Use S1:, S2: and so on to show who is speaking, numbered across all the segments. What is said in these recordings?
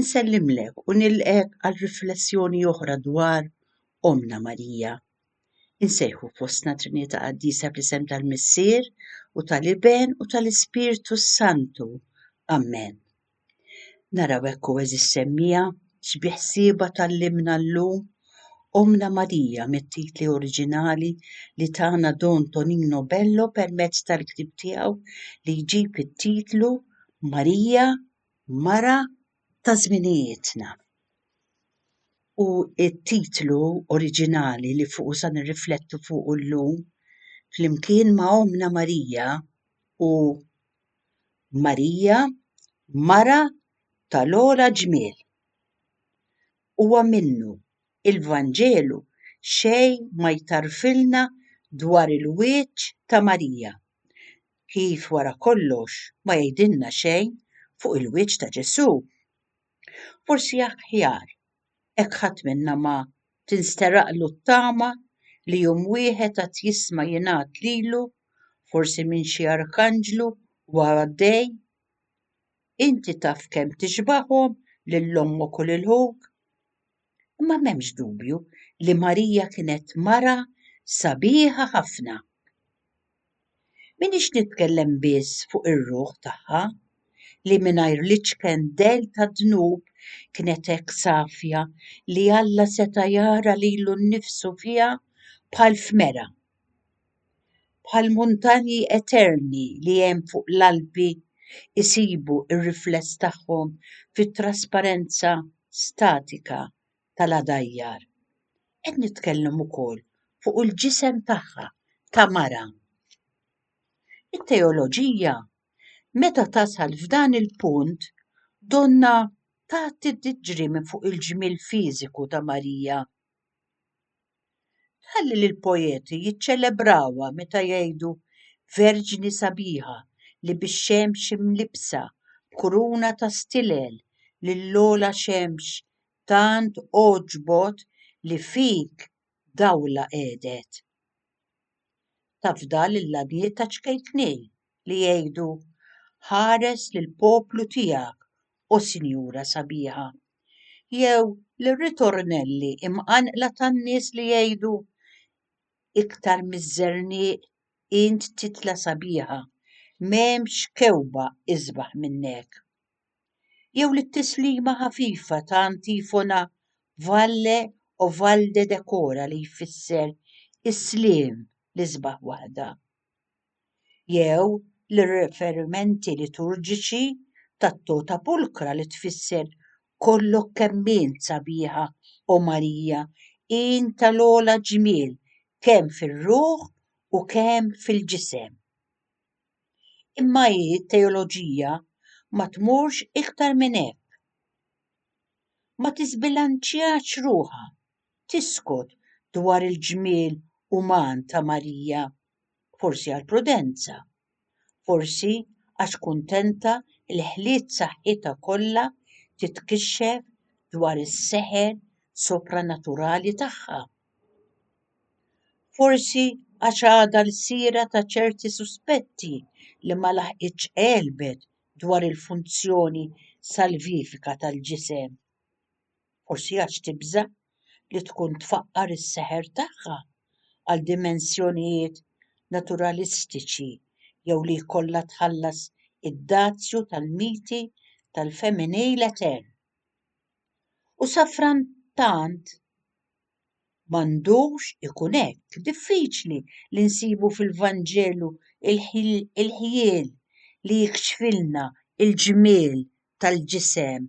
S1: Insellimlek u nilqek għal riflessjoni oħra dwar Omna Marija. Insejħu fostna Trinità Qaddisa fl-isem tal-Missier u tal-Iben u tal-Ispirtu Santu. Amen. Naraw ekku eżis semmija x'biħsieba tal-limna llum Omna Marija mit-titli oriġinali li tana Don Tonino Bello permezz tal-ktib tiegħu li jġib it-titlu Marija Mara ta' Żminijietna hu t-titlu oriġinali li fuqu se nirriflettu fuqu llum flimkien ma' Ommna Marija u Marija, Mara tal-Ogħla Ġmiel. Huwa minnu, il-Vanġelu xejn ma jtarrfilna dwar il-wiċċ ta' Marija. kif wara kollox ma jgħidilna xejn fuq il-wiċċ ta' Ġesù. Forsi aħjar hekk ħadd minna ma tinsteraqlu t-tama li jum wieħed għad jisma' jingħad lilu, forsi minn xi arkanġlu huwa għaddej, Inti taf kemm tixbahom lil ommok u lil ħuk? Imma m'hemmx dubju li Marija kienet mara sabiħa ħafna. Minix nitkellem biss fuq ir-ruħ tagħha li mingħajr l-iċken dell tad-dnub kienet hekk safja li Alla seta' jara lilu nnifsu fiha bħal f'mera. bħall-muntanji eterni li hemm fuq l-Alpi jsibu r-rifless tagħhom fit-trasparenza statika tal-għadajjar. Qed nitkellem ukoll fuq il-ġisem tagħha ta' mara. It-teoloġija meta tasal f'dan il-punt donnha tgħaddi tiġri minn fuq il-ġmiel fiżiku ta' Marija. Tħalli lill-poeti jiċċelebrawha meta jgħidu verġni sabiħa li bix-xemx imlibbsa b'kuruna ta' stilel lill-ogħla xemx tant għoġbot li fik dawla qegħdet. Tafda lill-għanijiet taċ-ċkejknin. li jgħidu ħares lill-poplu tiegħek, O Sinjura Sabiħa, jew lir-ritornelli imqanqla tan-nies li jgħidu iktar miż-żerniq int titla' sabiħa, m'hemmx kewkba isbaħ minnek. Jew lit-tislima ħafifa ta' antifona Valle o Valde Decora li jfisser is-sliem l-isbaħ waħda. jew lir-riferimenti liturġiċi tat-Tota Pulcra li tfisser Kollok kemm int sabiħa, O Marija, int tal-ogħla ġmiel kemm fir-ruħ u kemm fil-ġisem. Imma hi t-teoloġija ma tmurx iktar minn hekk. Ma tiżbilanċjax ruħha, tiskot dwar il-ġmiel uman ta' Marija. forsi għal prudenza, forsi għax kuntenta li ħliet saħħitha kollha titkixxef dwar is-seħer sopranaturali tagħha. Forsi għax għadha l-sira ta' ċerti suspetti li ma laħqitx għelbet dwar il-funzjoni salvifika tal-ġisem. Forsi għax tibża' li tkun tfaqqar is-seħer tagħha għal dimensjonijiet naturalistiċi jew li jkollha tħallas id-dazju tal-miti tal-femminil etern. U safrattant m'għandux ikun hekk, diffiċli li nsibu fil-Vanġelu l-ħjiel li jikxfilna l-ġmiel tal-ġisem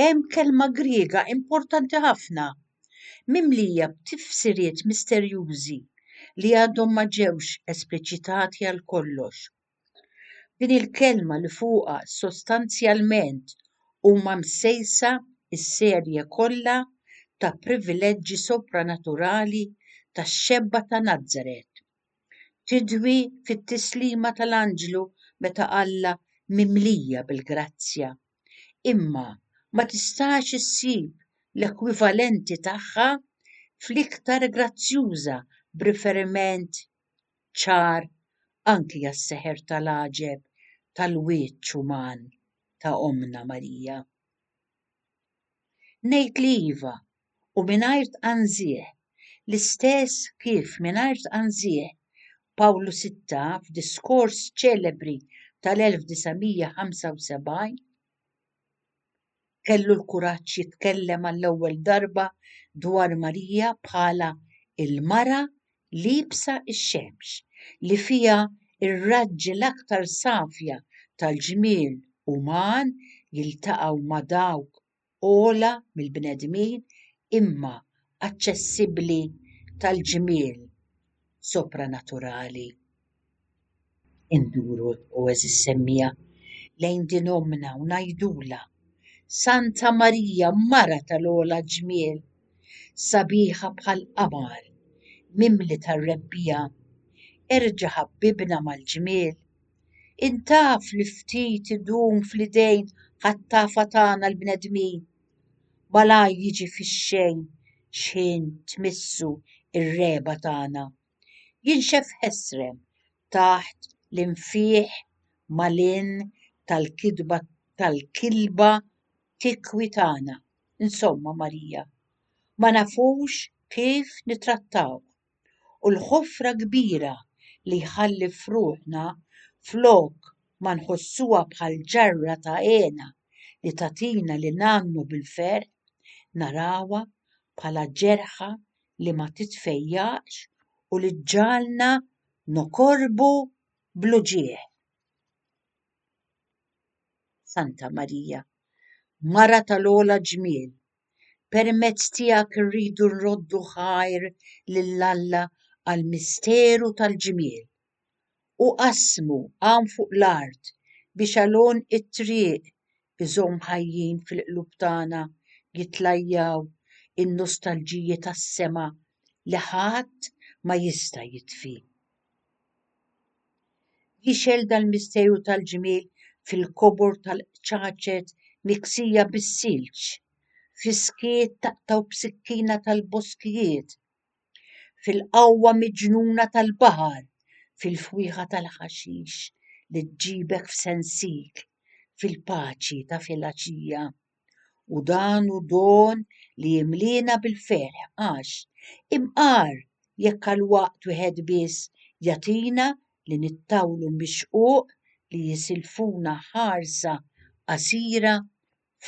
S1: Hemm kelma Griega importanti ħafna, mimlija b'tifsiriet misterjużi li għadhom ma ġewx espliċitati għal kollox. Din il-kelma li fuqha sostanzjalment huma msejsa s-serje kollha ta' privileġġi sopranaturali tax-xebba ta' Nazaret. tidwi fit-tislima tal-anġlu meta qallha mimlija bil-grazzja, imma ma tistax issib l-ekwivalenti tagħha fl-iktar grazzjuża b'riferiment ċar anki għas-seħer tal-għaġeb tal-wiċċ uman ta' Ommna Marija. Ngħid li iva, u mingħajr tqanżigħ, l-istess kif mingħajr tqanżigħ Pawlu sitta f'diskors ċelebri tal-1975 kellu l-kuraġġ jitkellem għall-ewwel darba dwar Marija bħala l-mara liebsa x-xemx, li fiha r-raġġi l-aktar safja tal-ġmiel uman jiltaqgħu ma' dawk ogħla mill-bnedmin imma aċċessibbli tal-ġmiel sopranaturali. Induru, o għeżież semmija, lejn din ommna u ngħidulha, Santa Marija, mara tal-ogħla ġmiel, sabiħa bħall-qamar, mimli tar-rebbija, erġa' ħabbibna mal-ġmiel Intaf li ftit idum fl-idejn ħattafa tagħna l-bnedmin. Malajr jiġi fix-xejn x'ħin tmissu r-regħba tagħna. Jinxef ħesrem taħt l-infieħ malin tal-kitba tal-kilba tikwi tagħna. Insomma, Marija, ma nafux kif nittrattawh. u l-ħofra kbira li jħalli f'ruħna flok ma nħossuha bħal ġarra ta' hena li tagħtina li ngħannu bil-ferħ, narawha bħala ġerħa li ma titfejjaqx u li ġġagħalna nokorbu bl-uġigħ. Santa Marija, Mara tal-ogħla ġmiel, Permezz tiegħek irridu nroddu ħajr lil Alla għall-misteru tal-ġmiel. U qasmu hawn fuq l-art biex għalun it-triq iżomm ħajjin fil-qlub tagħna jitlajjaw in-nostalġiji tas-sema li ħadd ma jista' jitfi. Jixgħel dal-misteru tal-ġmiel fil-kobor tal-qċaċet miksija bis-silġ, fis-skiet taqtgħu b'sikkina tal-boskijiet, fil-qawwa miġnuna tal-baħar, fil-fwieħa tal-ħaxix li ġġibek f'sensiek, fil-paċi ta' filgħaxija. U dan hu don li jimliena bil-ferħ għax imqar jekk għal waqt wieħed biss jagħtina li nittawlu mix-xquq li jisilfuna ħarsa qasira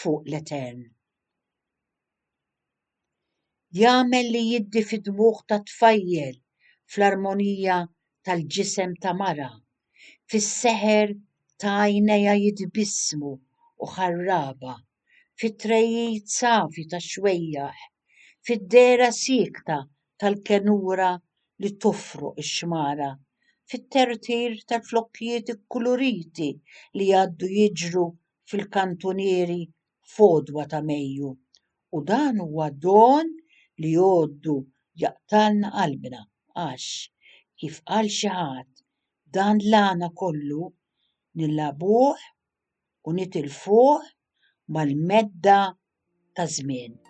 S1: fuq l-etern. Jagħmel li jiddi fid-dmugħ ta' tfajjel fl-armonija tal-ġisem ta' mara, fis-seħer ta' għajnejha jitbissmu u ħarraba, fit-trejjid safi tax-xwejjaħ, fid-dehra siekta tal-kenura li tofroq ix-xmara, fit-tertir tal-flokkijiet ikkuluriti li jgħaddu jiġru fil-kantunieri f'għodwa ta' Mejju u dan huwa don li jgħoddu jaqtgħalna qalbna għax, kif qal xi ħadd, dan l-għana kollu nilgħabuh u nitilfuh mal-medda taż-żmien.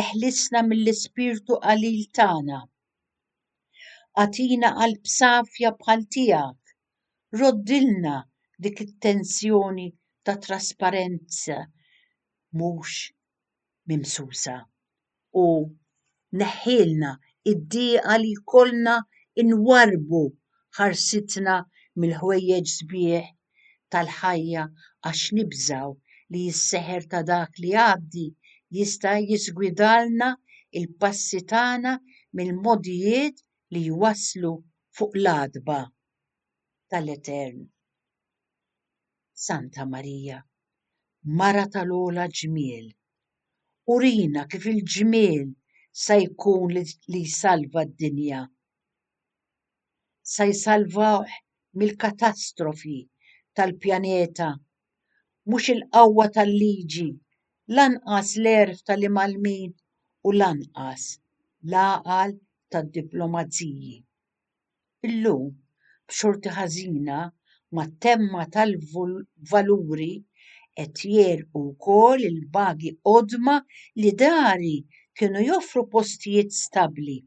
S1: Eħlisna mill-ispirtu qalil tagħna. Agħtina qalb safja bħal tiegħek. Roddilna dik it-tensjoni ta' trasparenza mhux mimsusa u neħħilna id-dieqa li jkollna nwarrbu ħarsitna mill-ħwejjeġ sbieħ tal-ħajja għax nibżgħu li s-seħer ta' dak li jgħaddi jista' jiżgwidalna l-passi tagħna mill-mogħdijiet li jwasslu fuq l-għatba tal-Etern. Santa Marija, Mara tal-ogħla ġmiel, urina kif il-ġmiel sa jkun li jsalva d-dinja. se jsalvawh mill-katastrofi tal-pjaneta. Mhux il-qawwa tal-liġi, lanqas l-għerf tal-imgħallmin u lanqas l-għaqal tad-diplomaziji. Illum, b'xorti ħażina, mat-temma tal-valuri qed jegħlqu wkoll il-bagi qodma li dari kienu joffru postijiet stabbli.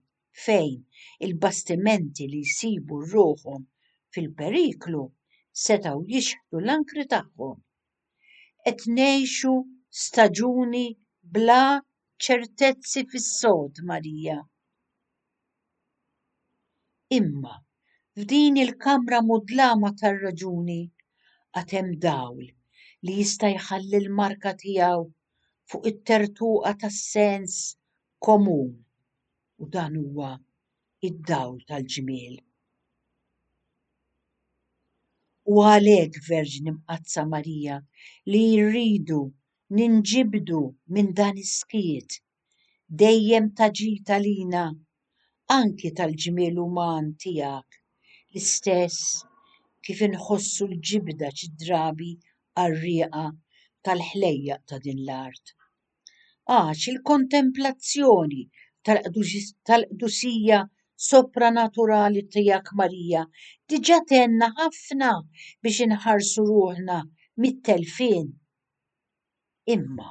S1: fejn il-bastimenti li jsibu ruħhom fil-periklu setgħu jixħtu l-ankri tagħhom. Qed ngħixu staġuni bla ċertezzi fis-sod, Marija. Imma f'din il-kamra mudlama tar-raġuni għad hemm dawl li jista' jħalli l-marka tiegħu fuq it-tertuqa tas-sens komun u dan huwa id-dawl tal-ġmiel. U għalhekk Verġni Mqaddsa Marija li rridu ninġibdu minn dan is-skiet dejjem ta' ġid għalina anki tal-ġmiel uman tiegħek l-istess kif inħossu l-ġibda xi drabi għar-rieqa tal-ħlejjaq ta' din l-art. għax il-kontemplazzjoni tal-qdusija sopranaturali tiegħek Marija diġà tgħinna ħafna biex inħarsu ruħna mit-telfien. Imma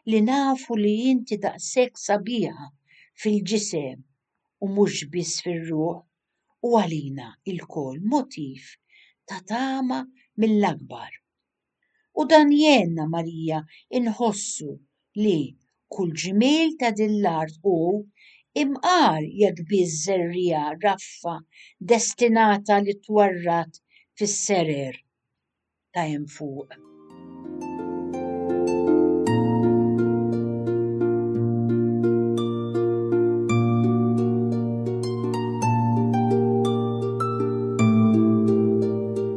S1: li nafu li inti daqshekk sabiħa fil-ġisem u mhux biss fir-ruħ hu għalina lkoll motiv ta' tama mill-akbar. U dan jgħinna Marija nħossu li kull ġmiel ta' din l-art hu imqar jekk biss żerriegħa raffa destinata li twarrad fis-serer ta' hemm fuq.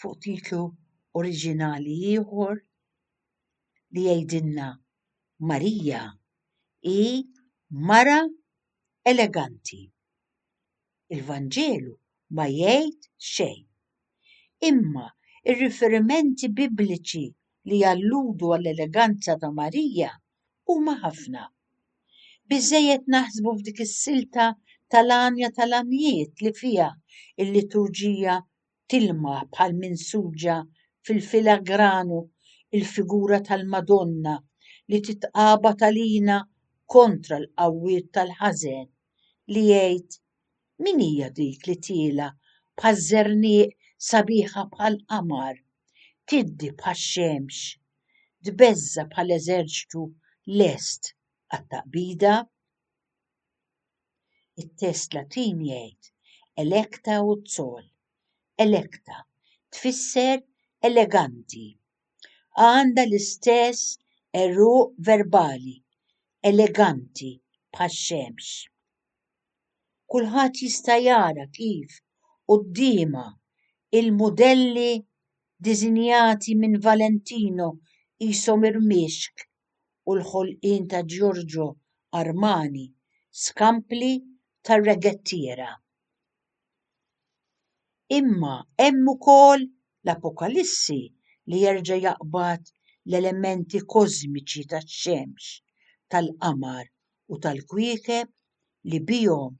S1: fuq titlu oriġinali ieħor li jgħidilna Marija hi mara eleganti. Il-Vanġelu ma jgħid xejn. Imma ir-riferimenti Bibliċi li jalludu għall-eleganza ta' Marija huma ħafna. Biżżejjed naħsbu f'dik is-silta tal-għanja tal-għanjiet li fiha l-liturġija tilmaħ bħal minsuġa fil-filagranu l-figura tal-Madonna li titqabad għalina kontra l-qawwiet tal-ħażen, li jgħid, Min hija dik li tiela' bħaż-żerniq sabiħa bħall-qamar, tiddi bħax-xemx, tbeżża' bħal eżerċtu lest għat-taqbida? It-test Latin jgħid electa ut sol. Electa tfisser eleganti. Għandha l-istess għeruq verbali, eleganti bħax-xemx. Kulħadd jista' jara kif quddiemha il-mudelli diżinjati minn Valentino qishom irmixk u l-ħolqien ta' Giorgio Armani, skampli tar-regettiera. Imma hemm ukoll l-Apokalissi li jerġa' jaqbad l-elementi kożmiċi tax-xemx, tal-qamar u tal-kwiekeb li bihom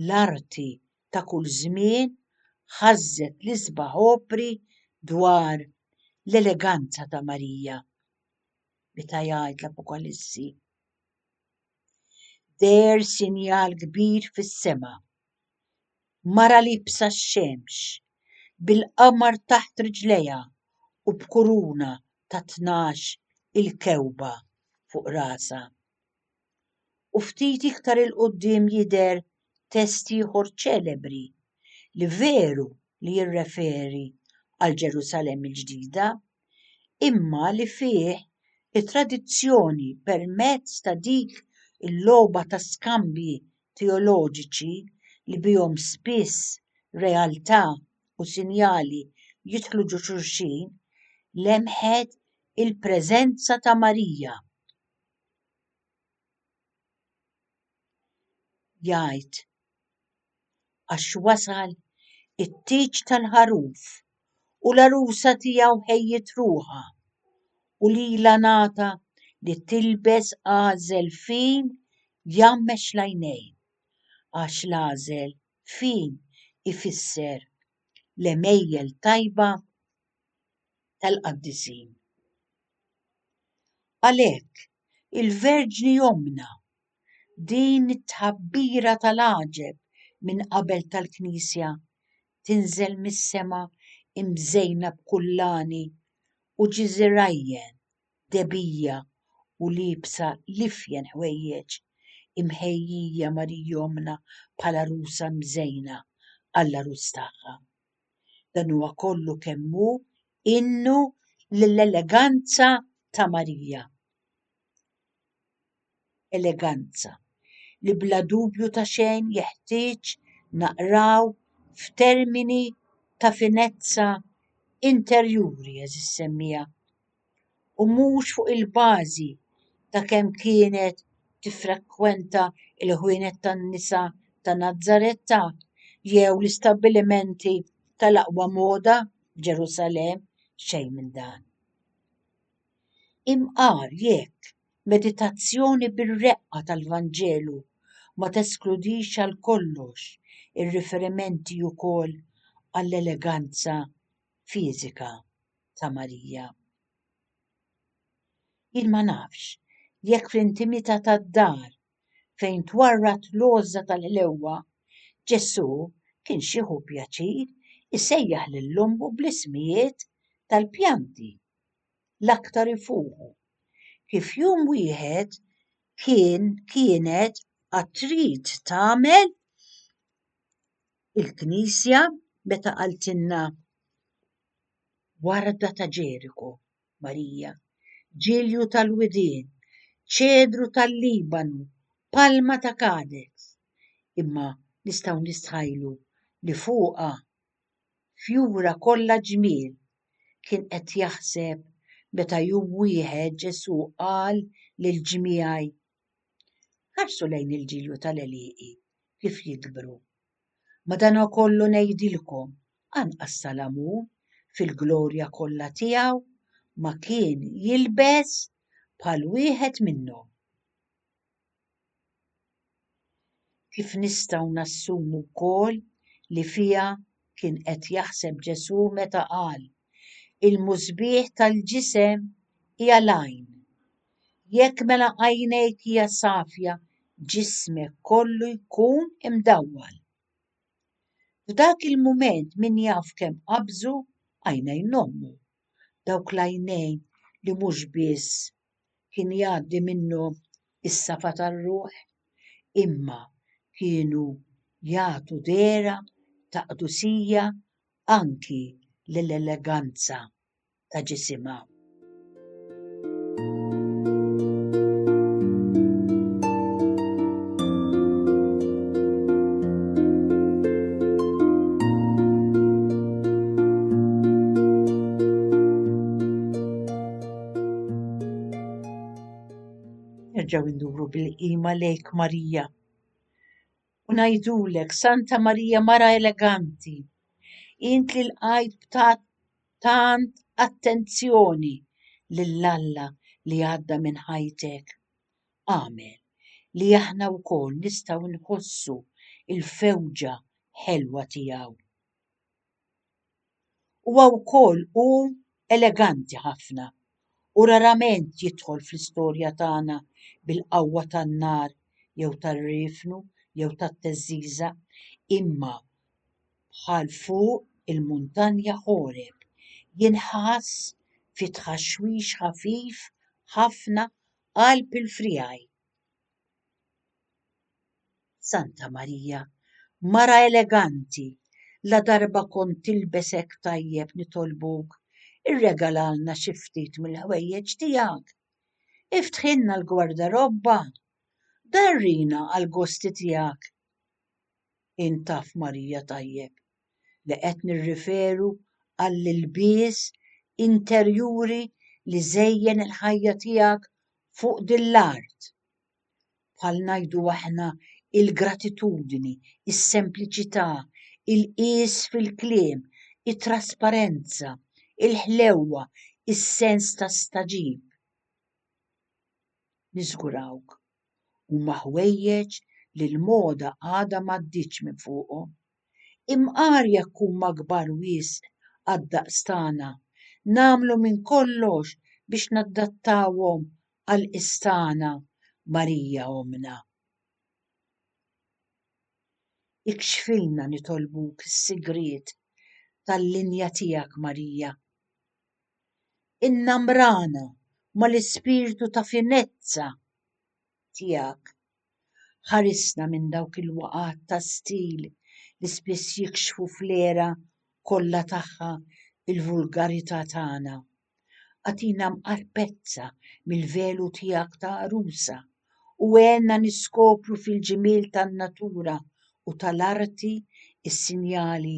S1: l-arti ta' kull żmien ħażżet l-isbaħ opri dwar l-eleganza ta' Marija. meta jgħid l-Apokalissi. Deher sinjal kbir fis-sema. Mara libsa x-xemx, bil-qamar taħt riġlejha u b'kuruna ta' tnax il-kewba fuq rasha. u ftit iktar 'il quddiem jidher test ieħor ċelebri li veru li jirreferi għal Ġerusalemm il-Ġdida, imma li fih it-tradizzjoni permezz ta' dik il-logħba ta' skambji teoloġiċi li bihom spiss realtà u sinjali jidħlu ġo xulxin, lemħet il-preżenza ta' Marija. jgħid, Għax wasal it-tieġ tal-ħaruf u l-għarusa tiegħu ħejjiet ruħha, u lilha ngħata li tilbes għażel fin jgħammex l-għajnejn, għax l-għażel fin ifisser l-għemejjel tajba tal-qaddisin. Għalhekk, il-Verġni Omna, din it-tħabbira tal-għaġeb minn qabel tal-Knisja, tinżel mis-sema imżejna b'kullani u ġiżirajjen, debija u liebsa l-ifjen ħwejjeġ, imħejjija Marija Omna bħala għarusa mżejna għall-għarus tagħha. Dan huwa kollu kemm hu innu lill-eleganza ta' Marija. Eleganza li bla dubju ta' xejn jeħtieġ naqraw f'termini ta' finezza interjuri, għeżież semmija. u mhux fuq il-bażi ta' kemm kienet tiffrekwenta l-ħwienet tan-nisa ta' Nazzaretta jew l-istabbilimenti tal-aqwa moda f'Ġerusalemm, xejn minn dan. Imqar jekk meditazzjoni bir-reqqa tal-Vanġelu ma teskludix għal kollox ir-riferimenti wkoll għall-eleganza fiżika. ta' Marija. Jien ma nafx jekk fl-intimità tad-dar fejn twarrad l-għożża tal-ħlewwa, Ġesù kienx jieħu pjaċir isejjaħ lil ommu bl-ismijiet tal-pjanti l-aktar ifuħu, kif jum wieħed kien, kienet għad trid tagħmel il-Knisja meta qaltilna warda ta' Ġeriku, Marija, ġilju tal-widien, ċedru tal-Libanu, palma ta' Kades, imma nistgħu nistħajlu li fuqha, fjura kollha ġmiel, kien qed jaħseb meta jum wieħed Ġesù qal lill-ġmiegħi, Ħarsu lejn il-ġilju tal-għelieqi kif jikbru. Madankollu ngħidilkom, anqas Salamun fil-glorja kollha tiegħu ma kien jilbes bħal wieħed minnhom. kif nistgħu nassumu wkoll li fiha kien qed jaħseb Ġesù meta qal, Il-musbieħ tal-ġisem hija l-għajn. Jekk mela għajnejk hija safja, ġismek kollu jkun imdawwal. F'dak il-mument min jaf kemm qabżu għajnejn ommu, dawk l-għajnejn li mhux biss kien jgħaddi minnhom is-safa tar-ruħ, imma kienu jagħtu dehra ta' qdusija anki lill-eleganza ta' ġisimha. Nerġgħu nduru bil-qima lejk Marija. U ngħidulek, Santa Marija mara eleganti, int li l-qajt b'tat tant attenzjoni lil Alla li għadda minn ħajtek. Amen li aħna wkoll nistgħu nħossu il-fewġa ħelwa tiegħu. Huwa wkoll hu eleganti ħafna u rarament jidħol fl-istorja tagħna bil-qawwa tan-nar jew tar-riefnu jew tat-theżżiża imma bħal fuq il-muntanja Ħoreb jinħass fi tħaxwix ħafif ħafna qalb il-friegħi. Santa Marija, mara eleganti, la darba kont tilbes hekk tajjeb nitolbuk irregalalna xi ftit mill-ħwejjeġ tiegħek. Iftħilna l-gwardarobba. Darrina għall-gosti tiegħek. Int taf Marija tajjeb. li qed nirriferu għall-ilbies interjuri li żejjen il-ħajja tiegħek fuq din l-art. Bħal ngħidu aħna il-gratitudni, is-sempliċità, il-qies fil-kliem, it-trasparenza, il-ħlewwa, is-sens ta' stagħġib. Niżgurawk, huma ħwejjeġ li l-moda għadha m'għaddietx minn fuqhom. Imqar jekk huma kbar wisq għad-daqs tagħna, nagħmlu minn kollox biex nadattawhom għall-qies tagħna, Marija Ommna. Ikxfilna nitolbuk is-sigriet tal-linja tiegħek, Marija. Innamrana mal-ispirtu ta' finezza tiegħek. Ħarisna minn dawk il-waqgħat ta' stil li spiss jikxfu fl-għera kollha tagħha l-vulgarità tagħna. Agħtina mqarpezza mill-velu tiegħek ta' għarusa u għenna niskopru fil-ġmiel tan-natura u tal-arti s-sinjali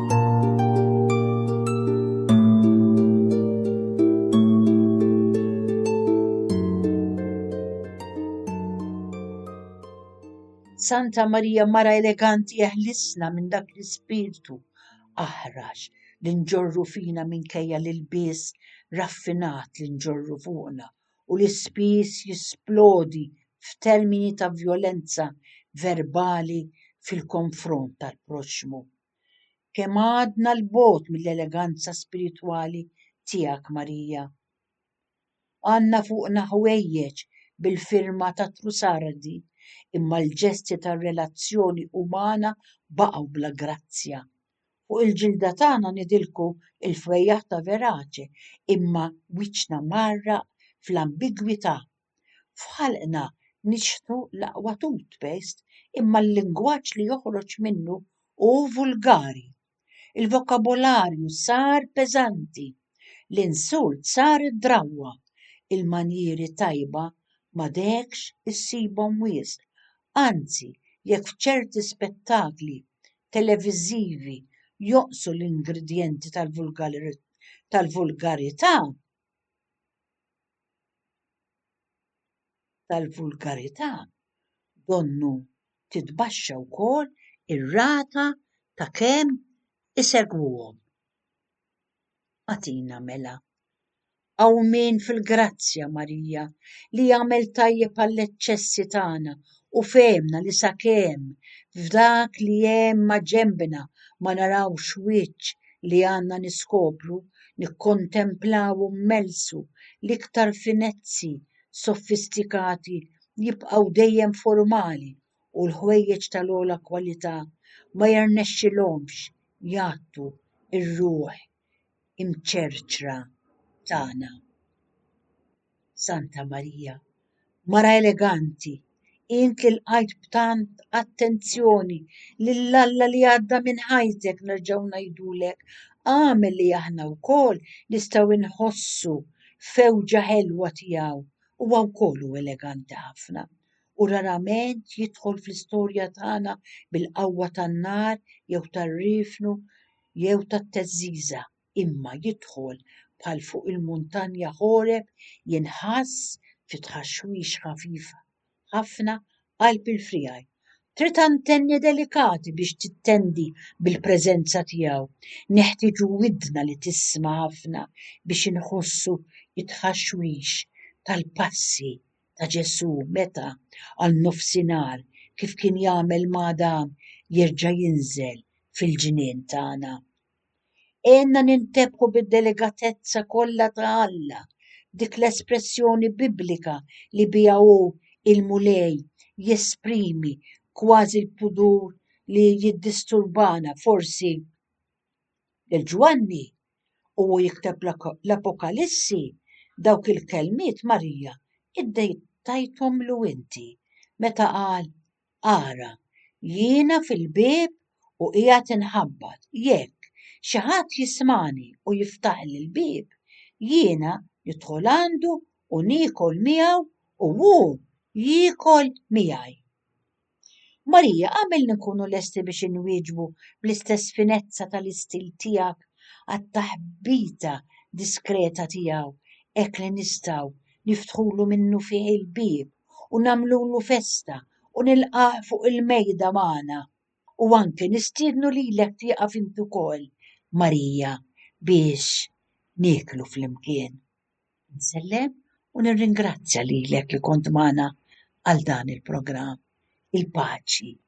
S1: Santa Marija mara eleganti eħlisna minn dak l-ispirtu aħrax li nġorru fina minkejja li l-bies raffinat li nġorru fuqna u li spiss jisplodi f'termini ta' vjolenza verbali fil-konfront tal-proxxmu. Kemm għadna 'l bogħod mill-eleganza spiritwali tiegħek, Marija. Għandna fuqna ħwejjeġ bil-firma ta' Trussardi, imma l-ġesti tar-relazzjoni umana baqgħu bla grazzja. Fuq il-ġilda tagħna nidilku l-fwejjaħ ta' Verace, imma wiċċna mgħarraq fl-ambigwità F'ħalqna nixħtu l-aqwa toothpaste imma l-lingwaġġ li joħroġ minnu hu vulgari. Il-vokabolarju sar peżanti, l-insult sar id-drawwa, il-manjieri tajba m'għadekx issibhom wisq, anzi jekk f'ċerti spettakli televiżivi jonqsu l-ingredjenti tal-vulgarità, tal-vulgarità donnu titbaxxa wkoll ir-rata ta' kemm isegwuhom. Agħtina mela. Hawn min fil-grazzja Marija li jagħmel tajjeb għall-eċċessi tagħna u fehimna li sakemm f'dak li hemm maġenbna ma narawx wiċċ li għandna niskopru, nikkontemplawhu mmelsu, l-iktar finezzi sofistikati jibqgħu dejjem formali u l-ħwejjeġ tal-ogħla kwalità ma jirnexxilhomx jgħattu r-ruħ imċerċra tagħna. Santa Marija, mara eleganti, int li lqajt b'tant attenzjoni lil Alla li għadda minn ħajtek nerġgħu ngħidulek agħmel li aħna wkoll nistgħu nħossu fewġa ħelwa tiegħu, huwa wkoll hu eleganti ħafna u rarament jidħol fl-istorja tagħna bil-qawwa tan-nar jew tar-riefnu jew tat-teżżiża. imma jidħol bħal fuq il-muntanja Ħoreb jinħass fi tħaxwix ħafif ħafna qalb il-friegħi. Trid antenni delikati biex tittendi bil-preżenza tiegħu. Neħtieġu widna li tisma' ħafna biex inħossu it-tħaxwix tal-passi ta' Ġesù meta għal nofsinhar kif kien jagħmel ma' Adam jerġa' jinżel fil-ġnien tagħna. Għenna nintebħu bid-deligatezza kollha ta' Alla, dik l-espressjoni Biblika li biha hu il-Mulej jesprimi kważi l-pudur li jiddisturbana forsi. Lil Ġwanni u hu jikteb l-Apokalissi dawk il-kelmiet Marija iddejtajthomlu inti meta qal Ara, jiena fil-bieb u qiegħed inħabbat, jekk xi ħadd jismagħni u jiftaħli l-bieb, jiena nidħol għandu u niekol miegħu u hu jiekol miegħi. Marija, għamilni nkunu lesti biex inwieġbu bl-istess finezza tal-istil tiegħek għat-taħbita diskreta tiegħu hekk li nistgħu niftħulu minnufih il-bieb u nagħmlulu festa u nilqgħah fuq il-mejda magħna u anke nistiednu lilek tieqaf int ukoll, Marija, biex nieklu flimkien. Insellem u nirringrazzja lilek li kont magħna għal dan il-programm. Il-paċi.